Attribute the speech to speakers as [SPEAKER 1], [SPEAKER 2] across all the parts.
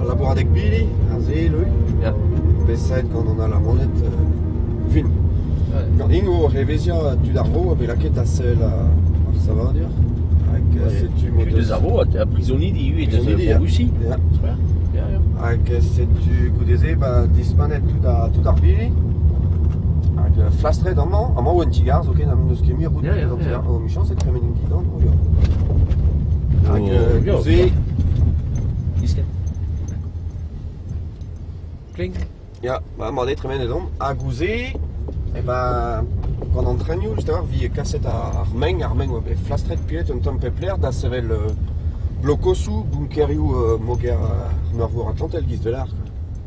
[SPEAKER 1] Al labouradeg bili, ar sell yeah.
[SPEAKER 2] bet gant
[SPEAKER 1] an Alamaned uh, vin. Gant int o reveziañ tud ar vro a bet lakaet da sell ar savadur. Hag setu mod eus ar vro,
[SPEAKER 2] ha prizonidi ivez en Russie.
[SPEAKER 1] Hag setu goude-se ba dispanet tout ar bili. Hag flastret amañ, amañ 'oa un ti-gar zoken ha n'eus ket mui roud evit amzer. Emichañs e tremenin dindan o ya. Hag neuze... Diskenn. Kling.
[SPEAKER 2] Ya, ba emañ
[SPEAKER 1] aze tremenet omp. Ha gouze, eh ben, gant an trenioù, just a-walc'h 'vit kaset ar meng. Ar meng 'oa bet flastret pet un tamm pep lec'h da sevel blokosoù, bunkerioù moger ar meurvor Atlantel, giz 'vel ac'h.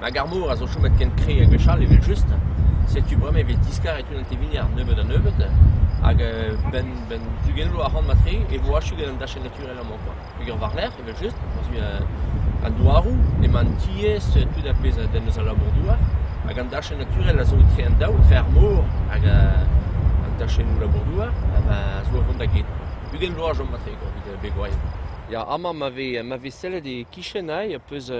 [SPEAKER 2] Hag ar mor a zo chomet ken kre ha gwechall evel-just, setu bremañ e vez diskaret unan tevini ar nebeud-ha-nebeud. Hag benn benn ugent vloaz ac'hann mat-tre e vo achu gant an dachenn naturel amañ koa. Peger war-lerc'h evel-just, war-zu an douaroù emañ an tiez, tout ar pezh a denn eus al labour-douar. Hag an dachenn naturel a zo etre an daou, etre ar mor hag an dachennoù labour-douar a zo o vont da get. Ugent vloaz 'chom mat-tre koa evit begourien. Ya, amañ ma vez ma vez sellet e-kichen aze, peus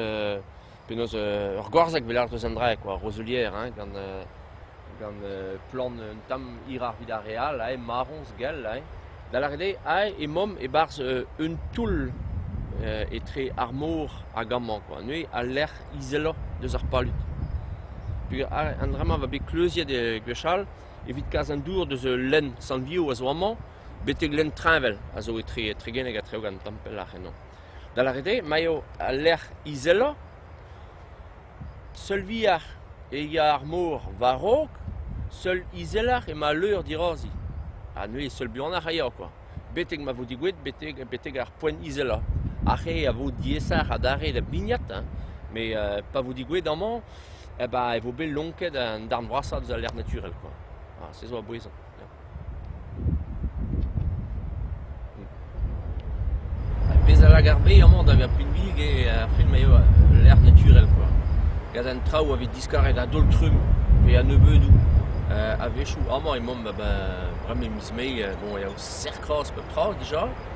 [SPEAKER 2] Penaos ur gorzhag pelec'h deus an drae kwa, roselier hein, gant gant plant un tamm hiroc'h evit ar re all hein, marroñs gall hein. Da lâret eo aze emaomp e-barzh un toull etre ar mor hag amañ kwa, neuze al lec'h izeloc'h deus ar palud. Peogwir an dra-mañ a oa bet kleuziet gwechall evit kas an dour deus ul lenn sant-Vio a zo amañ betek lenn Treñvel a zo etre Tregeneg ha Treogan, tamm pelloc'h ennañ. Da lâret eo ma eo al lec'h izelañ. Seul vihan eo ar mor war-raok, seul izeloc'h emañ al leur dirazi. Ha neuze seul buanoc'h a eo kwa. Betek ma vo digouet betek betek ar poent izelañ. Ar re a vo diaesoc'h adarre da bignat hein, met pa vo digouet amañ eh ben e vo bet lonket an darn vrasañ deus al lec'h naturel kwa. Ha se zo a bouez. Ya. Ar pezh a lak ar bed amañ da vezañ pinvidik eo ar film eo lec'h naturel kwa. Gant an traoù a vez diskaret a-daol-trumm pe a-nebeudoù a-wechoù amañ emaomp a-benn bremañ miz Mae bon, a-yaou serr-kroaz pep tra dija.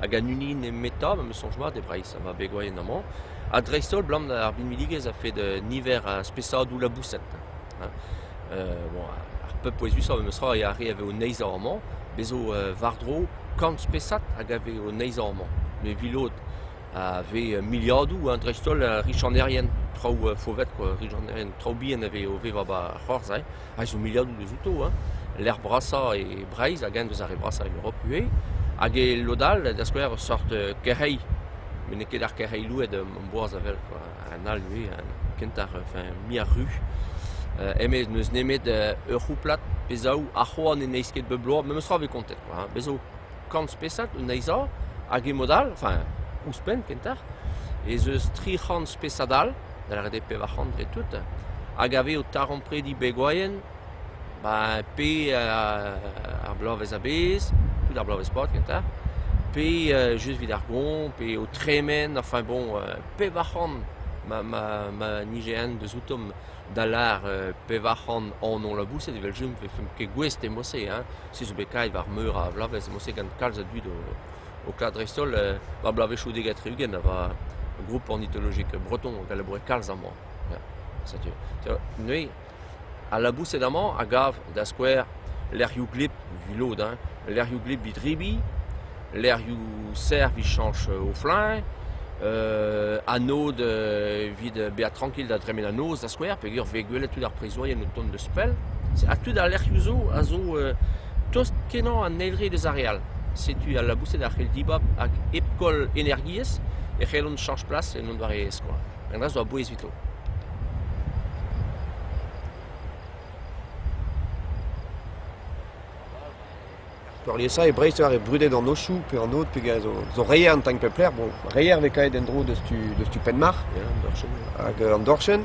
[SPEAKER 2] hag an hini nemetañ ma 'm eus soñj mat e Breizh ma begwayent amañ ha dreist-holl abalamour ar binvidigezh a-fed niver a spesadoù laboused. Bon, ar pep pouezusañ memestra a re a vez o neizhañ amañ, bez' zo war-dro kant spesad hag a vez o neizhañ amañ. Me 'vi lod a vez miliadoù ha dreist-holl richanerien, traoù faovet, richanerien, traoù bihan a vez o vevañ 'ba ar c'hoarzh. a zo miliadoù deuzouto, hein, lec'h brasañ e Breizh hag eñ deus ar re vrasañ en Europe ivez. Hag e lod all, da skouer, ur seurt euh, kerc'heilh. met n'eo ket ar kerc'heilh louet am boaz a wel quoi. Un all ivez, un kentañ, enfin mui ar ru. Euh, eme n'eus nemet euh, ur c'houplad pe zaou a c'hoant ne neizh ket bep bloaz, memes tra e vez kontet quoi. hein. Bez zo kant spesad o neizhañ hag e mod all, enfin ouzhpenn kentoc'h, ez eus tri c'hant spesad all da c'hedek pevar c'hant dre tout, hag a vez o taremprediñ begwaien ba pe uh ar bloavezh a-bezh, tout ar bloavezh pad kentañ, pe uh just evit ar goañv, pe o tremen, enfin bon pevar c'hant ma ma ma nije-eñ deus outomp da lar pevar c'hant anv laboused evel-just ne vefemp ket gouest e mod-se hein, se zo bet kaet war meur a vloavezh e mod-se gant kalz a dud o o klask dreist-holl war bloavezhioù dek ha tri-ugent a ra group ornitologek breton hag a laboure kalz amañ. Setu neuze al laboused amañ a gav da skouer lec'hioù gleb evit lod hein, lec'hioù gleb evit rebiñ, lec'hioù serr evit chañch o fluñv, anod evit bezañ trankil da dremen an noz da skouer peogwir 'vez gwelet tud ar prizourien o tont deus pell. Ha tud al lec'hioù zo a zo tost-kenañ an eil re deus ar re all. Setu al laboused a c'hell dibab hag hep koll energiezh e c'hellont chañch plas en un doare e-skoaz. Un dra zo a-bouez evito.
[SPEAKER 1] Peurliesañ e Breizh eo ar re brudet an ochoù pe an aod pegen zo, zo reier an tank pep lec'h. Bon, reier 'vez kaet en-dro deus tu, deus tu Penmarc'h hag an dorchenn.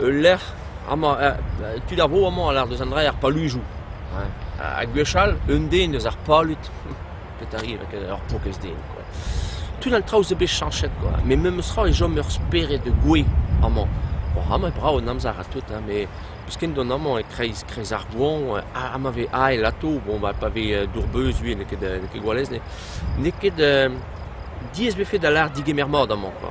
[SPEAKER 2] Ul lec'h amañ tud ar vro amañ a lâr deus an dra er paluzoù. Ha gwechall un den eus ar palud, petra 'ri ret ur pokez den kwa, tud an traoù zo bet chañchet kwa, met memestra e chom ur spered gouez amañ. Bon amañ e brav an amzer ha tout met peus ken dont amañ e-kreiz kreiz ar goañv ha ma vez ael atav bon bah pa vez dour-beuz ivez n'eo ket n'eo ket gwalez n'eo ket diaes 'vefe da lâret digemer mat amañ kwa.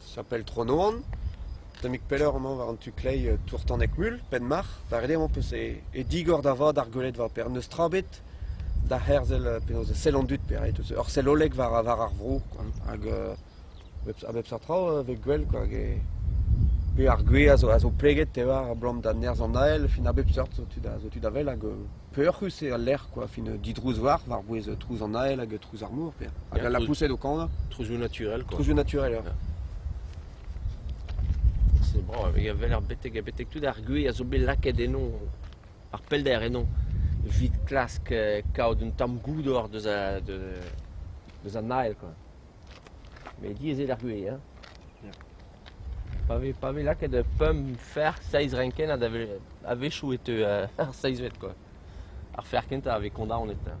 [SPEAKER 1] Sapel Tro-Noan. Tammig pelloc'h emañ war an tu-kleiz Tourtaneg-Mul, Penmarc'h. Da ret eo emañ peus e digor da vat ar gweledva-paper. N'eus tra ebet da herzel penaos e sell an dud pe ret eus ur selloleg war war ar vro kwa. Hag a bep seurt traoù e vez gwell kwa. Pe ar gwez a zo a zo pleget te oar abalamour da nerzh an Nael. Fin a bep seurt zo tu da zo tu da wel hag Peoc'hus eo al lec'h kwa, fin didrouz war, war-bouez trouz an ael hag trouz ar mor, Pêr. Hag Ja, al lapoused o kanañ, Trouzioù naturel, quoi. trouzioù
[SPEAKER 2] naturel. ja. C'est bon, il avait l'air betek, betek tout ar gwez a zo bet lakaet eno, ar pellder eno, evit klask euh, kaout un tamm goût or deus a, de, deus an ael, quoi. Met diaes eo d'ar vuhez hein ? Pa vez pa vez lakaet pemp ferc'h seizh renkennad a-wechoù e teu ar seizhvet kwa. Ar ferc'h kentañ a vez kondaonet hein.